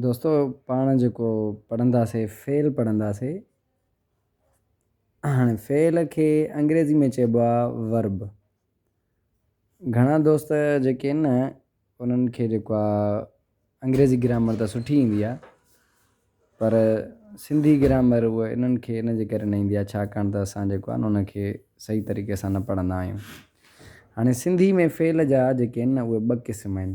دوستو پاڻ جيڪو پڙهنداسين فعل پڙهنداسين هاڻي فعل کي انگريزي ۾ چئبو آ Verb گهڻا دوست جيڪي ان انهن کي جيڪو آ انگريزي گرامر ته سٺي ايندي آ پر سنڌي گرامر هو انهن کي ان جي ڪري نه ايندي آ ڇاڪاڻ ته اسان جيڪو آ ان کي صحيح طريقي سان نه پڙهندا آهيون هاڻي سنڌي ۾ فعل جا جيڪي ان اهي ٻه قسم آهن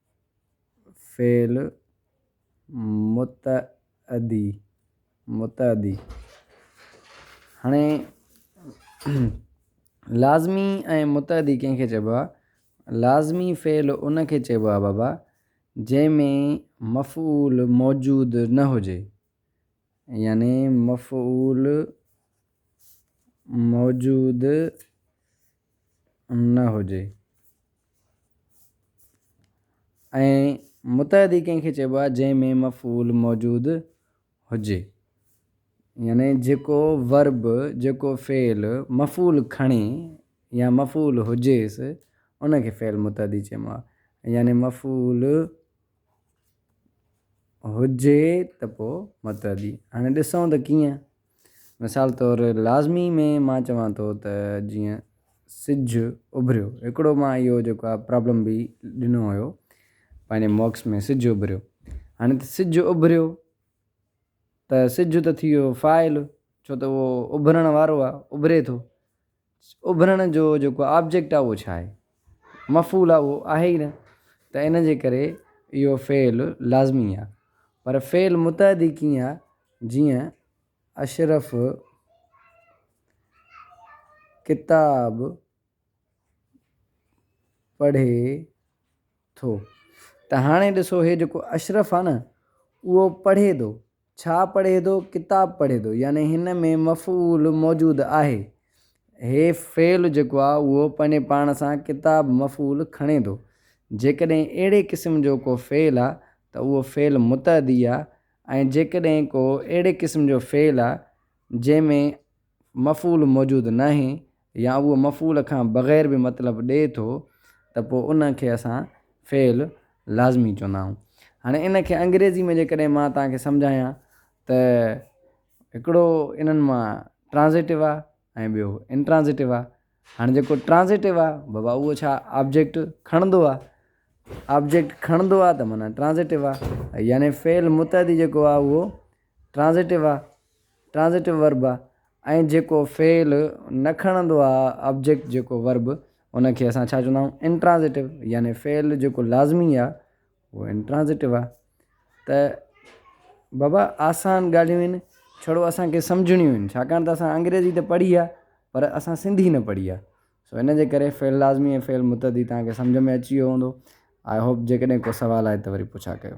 فعل متعدي، متعدي، هاڻي لازمي ۽ متعدي ڪنهن کي چئبو آهي؟ لازمي فعل ان کي چئبو آهي بابا جنهن ۾ مفعول موجود نه هجي يعني مفعول موجود نه هجي ۽ متعدي ڪنهن کي چئبو آهي جنهن ۾ مفعول موجود هجي يعني جيڪو ورب جيڪو فعل مفعول کڻي يا مفعول هجيس ان کي فعل متعدي چئبو آهي يعني مفعول هجي ته پوء متعدي هاڻي ڏسون ته ڪيئن؟ مثال طور لازمي ۾ مان چوان ٿو ته جيئن سج اڀريو هڪڙو مان اهو جيڪو آهي پرابلم به ڏنو هيو پنهنجي موڪس ۾ سج اڀريو هاڻي ته سج اڀريو ته سج ته ٿي ويو فاعل ڇو ته اهو اڀرڻ وارو آهي اڀري ٿو اڀرڻ جو جيڪو آبجيڪٽ آهي اهو ڇا آهي؟ مفعول آهي اهو آهي ئي نه ته ان جي ڪري اهو فعل لازمي آهي پر فعل متعدي ڪيئن آهي جيئن اشرف ڪتاب پڙهي ٿو ته هاڻي ڏسو هي جيڪو اشرف آهي نه اهو پڙهي ٿو ڇا پڙهي ٿو، ڪتاب پڙهي ٿو يعني هن ۾ مفعول موجود آهي. هي فعل جيڪو آهي اهو پنهنجي پاڻ سان ڪتاب مفعول کڻي ٿو. جيڪڏهن اهڙي قسم جو ڪو فعل آهي ته اهو فعل متعدي آهي ۽ جيڪڏهن ڪو اهڙي قسم جو فعل آهي جنهن ۾ مفعول موجود ناهي يا اهو مفعول کان بغير به مطلب ڏئي ٿو ته پوء ان کي اسان فعل لازمي چوندا آهيون. هاڻي ان کي انگريزي ۾ جيڪڏهن مان توهان کي سمجهايان ته هڪڙو انهن مان ٽرانزيٽو آهي ۽ ٻيو انٽرانزيٽو آهي. هاڻي جيڪو ٽرانزيٽو آهي بابا اهو ڇا آبجيڪٽ کڻندو آهي. آبجيڪٽ کڻندو آهي ته معنيٰ ٽرانزيٽو آهي. يعني فعل متعدي جيڪو آهي اهو ٽرانزٽيو آ، Transitive Verb، آ ۽ جيڪو فعل نه کڻندو آ، آبجيڪٽ جيڪو Verb، ان کي اسان ڇا چوندا آهيون انٽرانزٽيو يعني فعل جيڪو لازمي آ اهو انٽرانزٽيو آ ته بابا آسان ڳالهيون آهن ڇڙو اسان کي سمجهڻيون آهن ڇاڪاڻ ته اسان انگريزي ته پڙهي آ پر اسان سنڌي نه پڙهي آ سو ان جي ڪري فعل لازمي ۽ فعل متعدي تهان کي سمجهه ۾ اچي ويو هوندو آئي هوپ جيڪڏهن ڪو سوال آهي ته وري پڇا ڪيو